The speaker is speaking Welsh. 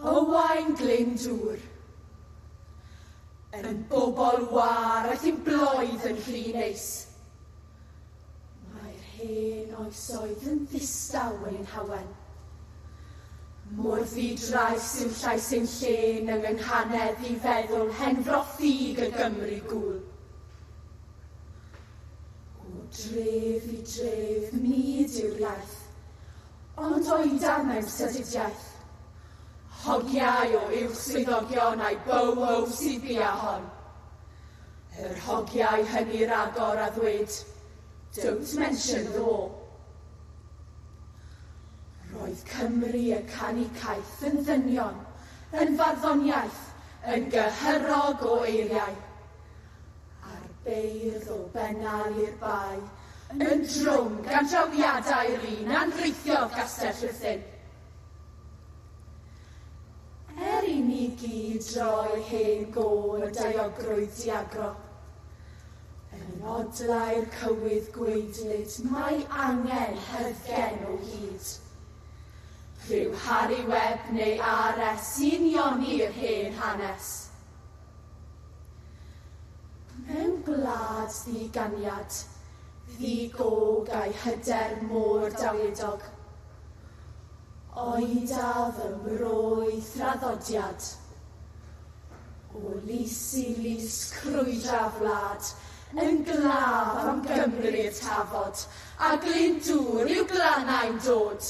Owain Glyndŵr. Yn bobl wâr aeth i'n bloedd yn rhy neis. Mae'r hen oesoedd yn ddistaw yn ein hawen. Mor ddi-drais yw llais ein llên yng ynghanedd i feddwl hen froffíg y Gymru gŵyl. O dref i dref nid yw'r iaith, Ond o'i darnau sadidiaeth. Hogiau o uwch swyddogion a'i bow-ho sy'n bia hon. Yr hogiau hynny ragor a ddweud, Don't mention the war. Roedd Cymru y canu caeth yn ddynion, yn farddoniaeth, yn gyhyrog o eiriau. A'r beirdd o Bennal i'r Bae yn drwm gan drawiadau'r un a anrheithiodd Gastell Rhuthun. Er i ni gyd droi hen gôr y daeogrwydd diagro, yn odlau'r cywydd gwaedlyd mae angen hyddgen o hyd. Rhyw Harri Webb neu RS sy'n ioni'r hen hanes. Mewn gwlad ddi-ganiad, ddi-gog a'i hyder mor dawlieddog, oedaf yn bro'i thraddodiad. O lys i lys crwydra'r wlad, yn glaf am Gymru'r Tafod, a Glyndŵr i'w glannau'n dod.